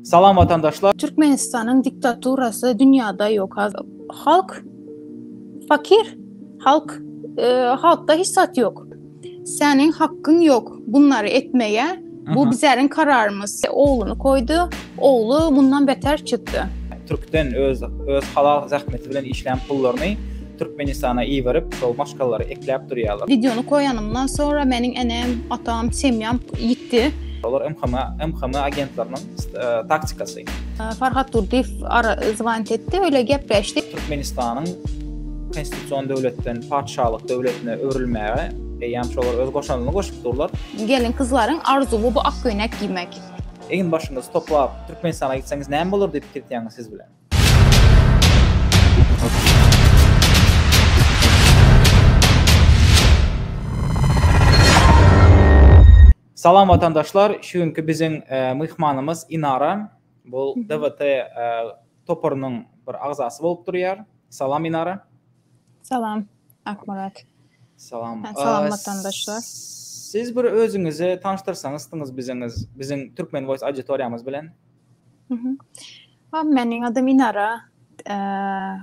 Salam watandaşlar. Türkmenistanyň diktaturasy dünýäde ýok. Halk fakir. Halk halkda hiç zat ýok. Seniň hakkyň ýok bunlary etmege. Bu bizäriň kararymyz. Ogluny koýdy. Ogly mundan beter çykdy. Türkden öz öz halal zähmeti bilen işlän pullaryny Türkmenistana iberip şol maşgalary ekläp durýalar. Videony koýanymdan sonra meniň enem, atam, semýam ýitdi. Olar MHM, MHM agentleriniň taktikasy. Farhat Durdyýew ara zwonit etdi, öýle gepleşdik. Türkmenistanyň konstitusion döwletden patyşalyk döwletine öwrülmäge eýýäm şolar öz goşandyny goşup durlar. Gelin-gyzlaryň arzuwy bu ak köýnek geýmek. Egin-başyňyzy toplap Türkmenistana gitseňiz näme bolar diýip pikir etýäňiz siz bilen? Salam watandaşlar, şu günki biziň myhmanymyz Inara. Bu DWT toparynyň bir agzasy bolup durýar. Salam Inara. Salam Akmyrat. Salam. Salam watandaşlar. Siz bir özüňizi tanyşdyrsaňyzdyňyz biziňiz, biziň Türkmen Voice auditoriýamyz bilen. Mhm. Ha, meniň adym Inara. Eee,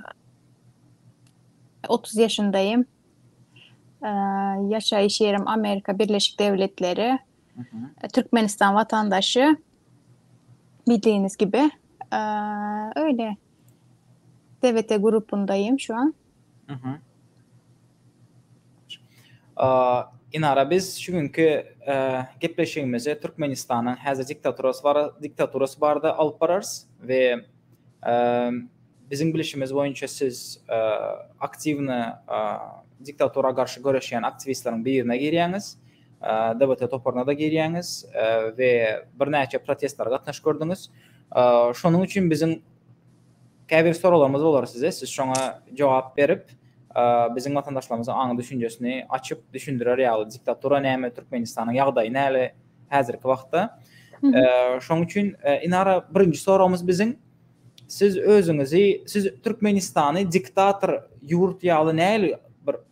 30 ýaşyndaýym. Eee, ýaşaýyş ýerim Amerika Birleşik Dewletleri. Mhm. E, Türkmenistan watandaşy. Bildigiňiz gibi. Eee, öýle. TVT grupyndaýym şu an. Inara biz şu günki gepleşigimizi Türkmenistanyň häzir diktaturasy barada alyp bararys we biziň bilişimiz boýunça siz aktiwny diktatura garşy göreşýän aktiwistleriň birine girýäňiz, DBT toparyna-da girýäňiz we birnäçe protestlere gatnaşyp gördüňiz. Şonuň üçin biziň Käbir soraglarymyz bolar size, siz şoňa jogap berip, biziň watandaşlarymyzyň aňy düşünjesini açyp düşündirer ýaly diktatura näme, Türkmenistanyň ýagdaýy näle häzirki wagtda. Şoň üçin Inara birinji soragymyz biziň siz özüňizi siz Türkmenistany diktator ýurt ýaly näli bir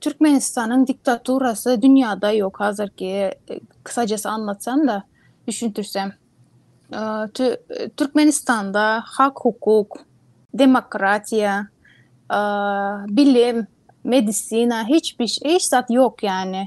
Türkmenistanyň diktaturasy dünýäde ýok hazirki kysajasy anlatsam-da düşündirsem. Türkmenistanda hak hukuk, demokratiýa, bilim, medisina hiç zat ýok ýany.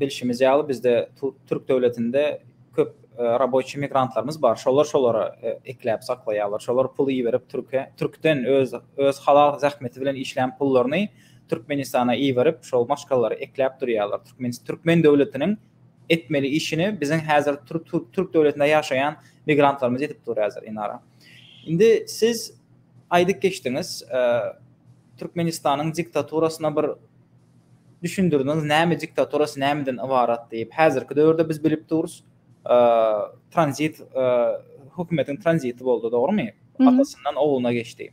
Bilşimiz ýaly, bizde türk döwletinde köp raboçi migrantlarymyz bar. Şolar şolara ekläp saklaýarlar. Şolar pul iberip türke, türkden öz öz halal zähmeti bilen işlän pullaryny Türkmenistana iberip, şol maşgalalary ekläp durýarlar. Türkmen türkmen döwletiniň etmeli işini biziň häzir türk türk döwletinde ýaşaýan migrantlarymyz edip dur häzir Inara. Indi siz aýdyp geçdiňiz, Türkmenistanyň diktaturasyna bir Düşündirdiňiz näme diktaturasy nämeden ybarat diýip. Häzirki döwürde biz bilip durus tranzit hökümetiň tranziti boldy dogrymy? Atasyndan ogluna geçdi.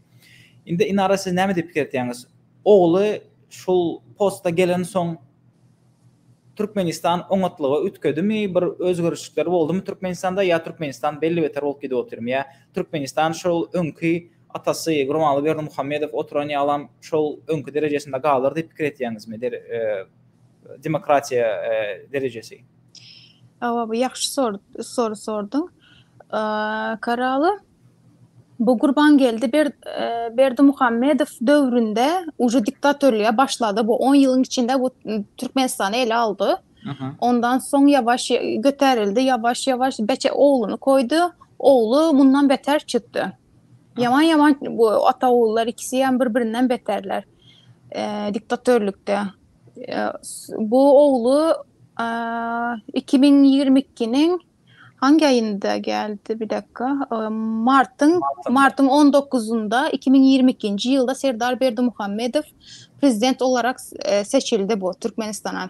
Indi Inara siz näme diýip pikir etýäňiz? Ogly şul posta gelen soň Türkmenistan oňatlyga üýtgedimi bir özgerişlikler boldumy Türkmenistanda ýa Türkmenistan belli beter bolup gidip otyrmy ýa Türkmenistan şol öňki Atasy Gurbanguly Berdimuhamedow oturan ýalam şol öňki derejesinde galar diýip pikir etýäňizmi? Demokratiýa derejesi. Hawa, bu ýagşy soru sorduň. Karaly, bu Gurbangeldi Berdimuhamedow döwründe uje diktatorlyga başlady. Bu on ýylyň içinde bu Türkmenistany ele aldy. Ondan soň ýawaş göterildi, ýawaş-ýawaş beçe ogluny goýdy. Ogly mundan beter çykdy. Ýaman ýaman bu Atagullar ikisi hem bir birinden beterler. E, diktatörlükde. E, bu oglu e, 2022-niň hangi aýynda geldi bir dakika e, martyň martyň 19-unda 2022-nji ýylda Serdar Berdimuhamedow prezident olarak e, seçildi bu Türkmenistana.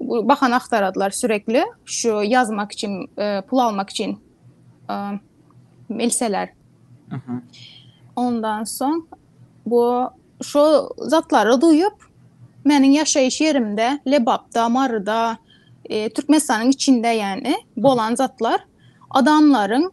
bahana aktaradylar sürekli şu yazmak için e, pul almak için e, melseler. Ondan soň bu şu zatlary duyup meniň yaşayış yerimde Lebapda, Maryda, e, Türkmenistanyň içinde yani bolan zatlar adamların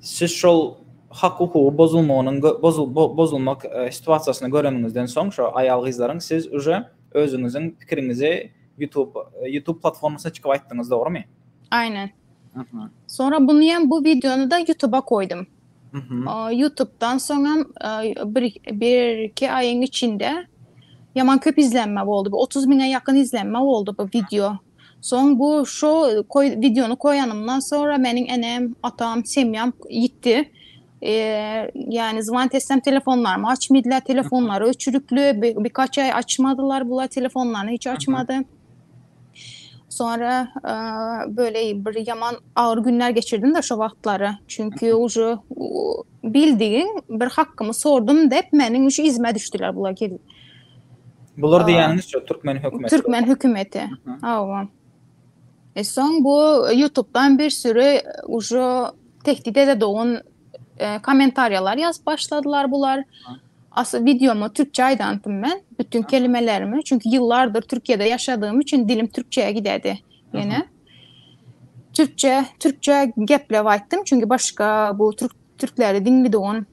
Siz şol hak hukugy bozulmagynyň bozulmak situasiýasyny göreniňizden soň şo aýal-gyzlaryň siz uje özüňiziň pikiriňizi YouTube YouTube platformasyna çykyp aýtdyňyz dogrymy? Aýnen. Soňra buny hem bu wideony da YouTube-a goýdum. YouTube-dan soň hem bir bir iki aýyň içinde ýaman köp izlenme boldy. Bu otuz miňe ýakyn izlenme boldy bu wideo. Soň bu şo koý wideony koýanymdan sonra meniň enem, atam, semýam ýitdi. Ýany zwant etsem telefonlarymy açmydylar, telefonlary öçürikli, birkaç aý açmadylar bular telefonlaryny hiç açmady. Sonra böyle bir ýaman agyr günler geçirdim de şo wagtlary. Çünki uje bildigiň bir hakkymy sordum dep meniň şu izime düşdiler bular gelip. Bular diýýäniňiz şu türkmen hökümeti. Türkmen hökümeti. Hawa. E soň bu YouTube-dan bir sürü ujo tehdit ede dogun e, kommentariýalar ýazyp başladylar bular. Asy videomu türkçe aýdantym men, bütün kelimelerimi. Çünki ýyllardyr Türkiýede ýaşadygym üçin dilim türkçeye gidedi. Ýene. Türkçe, türkçe gepläp aýtdym, çünki başga bu türk türkleri diňli dogun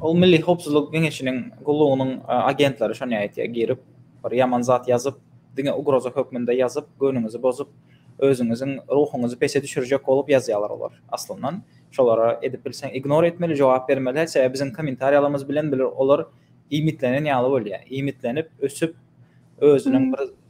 Ol Milli Howpsuzlyk Geňeşiniň gullugynyň agentleri şony aýtýar, girip, bir ýaman zat ýazyp, diňe ugroza hökmünde ýazyp, göwnüňizi bozup, özüňiziň ruhuňyzy pese düşürjek bolup ýazýarlar olar. Aslyndan, şolara edip bilseň ignor etmeli, jogap bermeli, sebäbi biziň kommentariýalarymyz bilen olar iýmitlenen ýaly bolýar. Iýmitlenip, ösüp, özüniň bir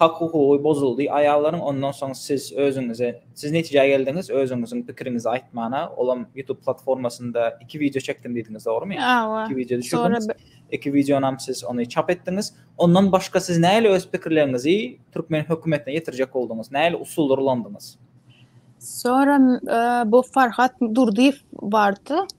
Hak hukugy bozuldy aýallaryň ondan soň siz özüňize siz netijä geldiňiz özüňiziň pikiriňizi aýtmana olam ýutub platformasynda iki wideo çekdim diýdiňiz dogrymy Hawa iki wideo düşürdiňiz iki wideonam siz ony çap etdiňiz ondan başga siz näle öz pikirleriňizi türkmen hökümetine ýetirjek bolduňyz näle usullar ulandyňyz. Soňra bu Farhat Durdyýew bardy.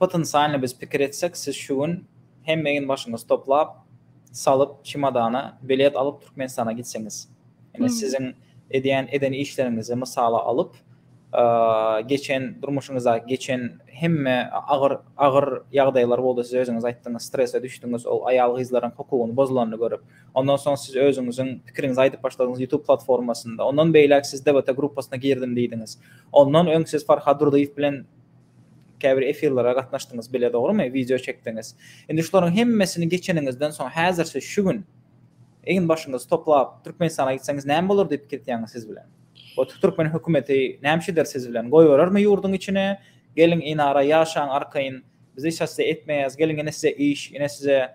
Potensialny biz pikir etsek siz şu gün hemme egin başyňyzy toplap, salyp çemodana bilet alyp Türkmenistana gitseňiz. Ýani siziň edýän eden işleriňizi mysala alyp geçen durmuşyňyzda geçen hemme agyr agyr ýagdaýlar boldy siz özüňiz aýtdyňyz strese düşdüňiz ol aýal gyzlaryň hukugyny bozulanyny görüp ondan soň siz özüňiziň pikiriňizi aýdyp başladyňyz YouTube platformasynda ondan beýläk siz DBT gruppasyna girdim diýdiňiz ondan öň siz Farhad Durdyýew bilen Käbir efirlere gatnaşdyňyz bile dogrymy? Wideo çekdiňiz. Indi şularyň hemmesini geçeniňizden soň häzirçe şu gün egin başyňyzy toplap Türkmenistana gitseňiz näme bolar diýip pikirtýäňiz siz bilen? Bu türkmen hökümeti nämeçe eder siz bilen? Goýberermi ýurduň içine? Geliň enara ýaşaň arkaýyn. Biz hiç hassy etmeýäs. Geliň ine size iş, ine size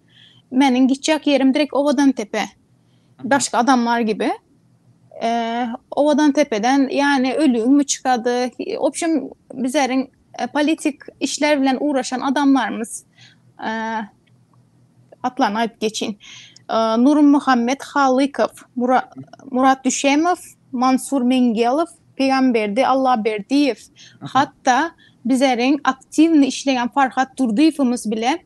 Meniň gitjek ýerim direkt Owadantepe. Başga adamlar gibi. Ee, Owadantepeden yani ölüň mü çykady? Obşim bizleriň e, politik işler bilen uğraşan adamlarymyz e, atlaryny aýyp geçin. E, Nurum Muhammed Halykow, Mura, Murat Düşemow, Mansur Mengelow, Pegamberdi Allaberdiýew, hatda bizleriň aktiwny işleýän Farhat Durdyýewimiz bile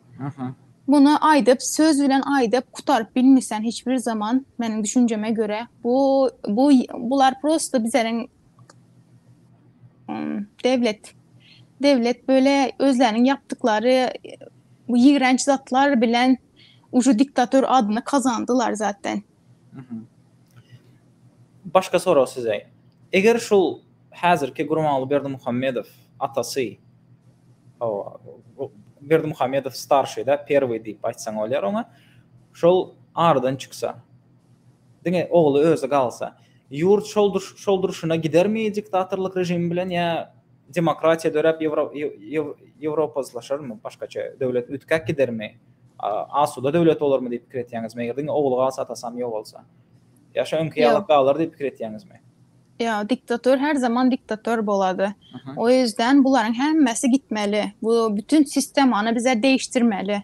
Muny aýdyp söz bilen aýdyp gutaryp bilmisen hiç bir zaman meniň düşünjeme göre bu bu bular prosta bizleriň dewlet dewlet böyle özleriniň yapdyklary bu ýigrenç zatlar bilen uju diktator adyny kazandylar zaten. Başga sorag size. Eger şul häzirki Gurbanguly Berdimuhamedow atasy, hawa, Berdimuhamedow starşyda, perwyý diýip aýtsaň bolýar oňa, şol aradan çyksa, diňe ogly özi galsa, ýurt şol durşuna gidermi diktatorlyk režimi bilen ýa Demokratiýa döräp Ýewropa yslaşarmy, başgaça döwlet üýtgäp gidermi, asuda döwlet bolarmy diýip pikir etýäňizmi, eger diňe ogly galsa, atasam ýok bolsa? Ýa şo öňki ýaly galar diýip pikir etýäňizmi? Ýok, diktator her zaman diktator bolady. O ýüzden bularyň hemmesi gitmeli. Bu bütin sistemany bize deýişdirmeli.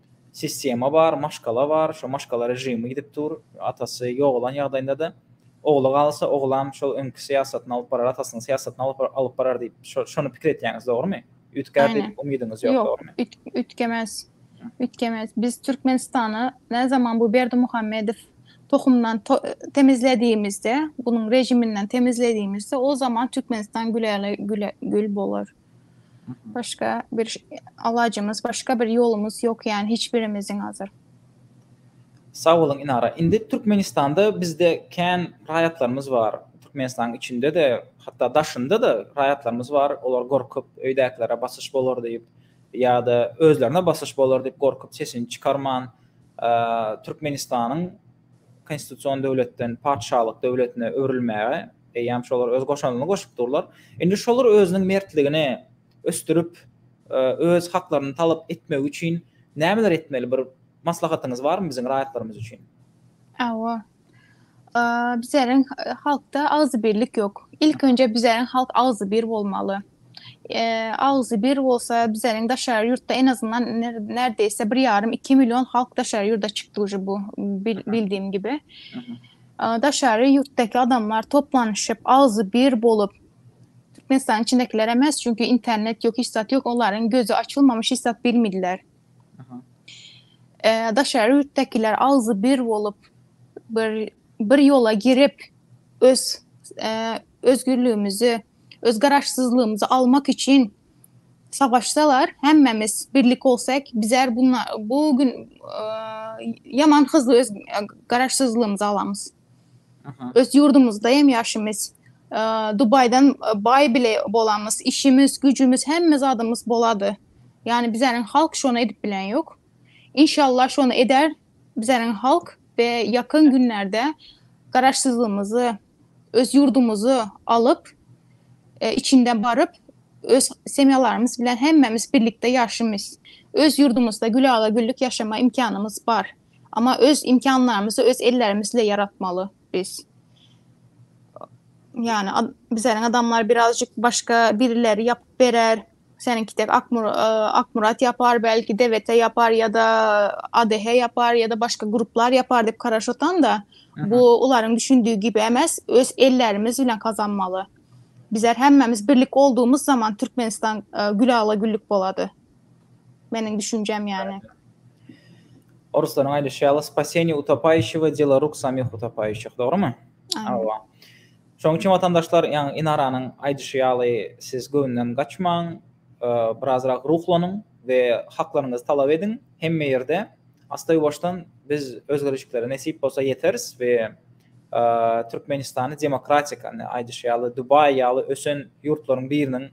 Sistema bar, maşgala bar, şo maşgala režimi gidip dur, atasy ýogalan ýagdaýynda-da, ogly galsa, oglam şol öňki syýasatyny alyp barar, atasynyň syýasatyny alyp alyp barar diýip, şo şony pikir etýäňiz, dogrymy? Üýtgär diýip Aýne. umydyňyz ýok, Ýok, dogrymy? üýt üýtgemez. Üýtgemez. Biz Türkmenistany näzaman bu Berdimuhamedow tohumdan to temizlediýimizde, bunuň režiminden temizlediýimizde, o zaman Türkmenistan güläle güle gül bolar. Başga bir alajymyz, başga bir ýolumyz ýok ýani hiç birimiziň hazir. Sag boluň Inara. Indi Türkmenistanda bizde kän raýatlarymyz bar. Türkmenistanyň içinde-de, hatda daşynda-da raýatlarymyz bar. Olar gorkup, öýdäkilere basyş bolar diýip ýa-da özlerine basyş bolar diýip gorkup sesini çykarman Türkmenistanyň konstitusion döwletden patyşalyk döwletine öwrülmäge eýýäm şolar öz goşandyny goşup durlar. Indi şolar özüniň mertligini ösdürip, e, öz haklaryny talap etmegi üçin nämeler etmeli? Bir maslahatyňyz barmy biziň raýatlarymyz üçin? Hawa. Bizäriň e, halkda agzybirlik ýok. Ilk önje bizäriň halk agzybir bolmaly. agzy bir bolsa bizeniň daşary ýurtda en azyndan nerdeýse bir ýarym iki million halk daşary ýurda çykdy uje bu bildiýim gibi daşary ýurtdaky adamlar toplanyşyp agzy bir bolup türkmenistanyň içindekiler emes çünki internet ýok hiç zat ýok olaryň gözi açylmamış hiç zat bilmediler daşary ýurtdakiler agzy bir bolup bir bir ýola girip öz özgürlügimizi Öz garaşsyzlygymyzy almak üçin savaşsalar, hemmämiz birlik bolsak, bizler bu gün ýaman hyzly öz garaşsyzlygymyzy alamyz. Öz ýurdumyzda hem ýaşymyz. Dubaýdan baý bile bolamyz, işimiz, güjümiz, hemme zadymyz bolady. Ýani bizleriň halk şony edip bilen ýok. Inşallah şony eder bizleriň halk we ýakyn günlerde garaşsyzlygymyzy öz ýurdumyzy alyp, içinden baryp, öz semýalarymyz bilen hemmämiz birlikde ýaşamys. Öz ýurdumyzda gülala-güllük ýaşama imkanymyz bar. Amma öz imkanlarymyzy öz ellerimizle ýaratmaly biz. Ýani, bizleriň adamlar birazjyk başga birileri ýapyp berer, Seniňki tek Akmurat ýapar, belki DWT ýapar ýa-da ADH ýapar ýa-da başga gruplar ýapar diýip garaş otan-da, bu olaryň düşündigi gibi emes, öz ellerimiz bilen gazanmaly. Bizler hemmämiz birlik olduğumuz zaman Türkmenistan gül ala güllük bolady. Meniň düşünjem ýany. Oruslaryň aýdyşy ýaly, Spasenýe utapayişi we dela ruk samih utapayişih, dogrumy? Aýwa. Şonuň üçin watandaşlar, ýaňy Inaranyň aýdyşy ýaly, siz göwünden gaçmaň, birazrak ruhlanyň we haklaryňyzy talap ediň. Hemme ýerde astaýuwaşdan biz özgerişiklere nesip bolsa ýeteris we Türkmenistany demokratik, indi aýdyşy ýaly, Dubaý ýaly ösen ýurtlaryň biriniň,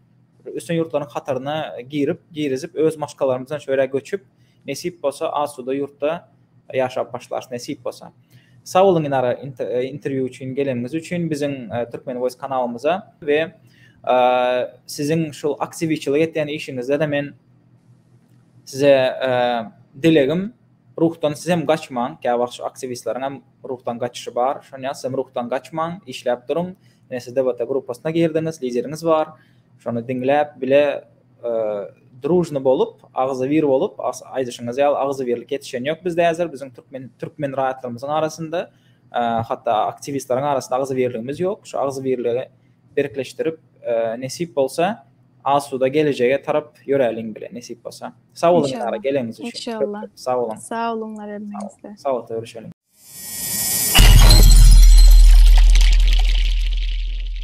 ösen ýurtlaryň hataryna girip, girizip, öz maşgalalarymyz bilen şu ýere göçüp, Nesip bolsa asuda ýurtda ýaşap başlars nesip bolsa. Sag boluň Inara interwýu üçin geleniňiz üçin biziň Türkmen voice kanalymyza we siziň şul aktiwiçilik etýän işiňizdede men size dilegim ruhdan sizem gaçmaň käwagt şu aktiwistleriň hem ruhdan gaçyşy bar şonýa sizem ruhdan gaçmaň işläp duruň ine siz DBT grupasyna girdiňiz lideriňiz bar şony diňläp bile Drujny bolup, agzybir bolup, aýdyşyňyz ýaly agzybirlik ýetişen ýok bizde häzir, biziň türkmen türkmen raýatlarymyzyň arasynda, hatda aktiwistleriň arasynda agzybirligimiz ýok. Şu agzybirligi berkleşdirip, nesip bolsa, asuda gelejege tarap ýöräliň bile, nesip bolsa. Sag boluň Dilara, geleniňiz üçin. Inşallah. Sag boluň. Sag boluňlar hemmäňizde. Sagatda görüşeliň.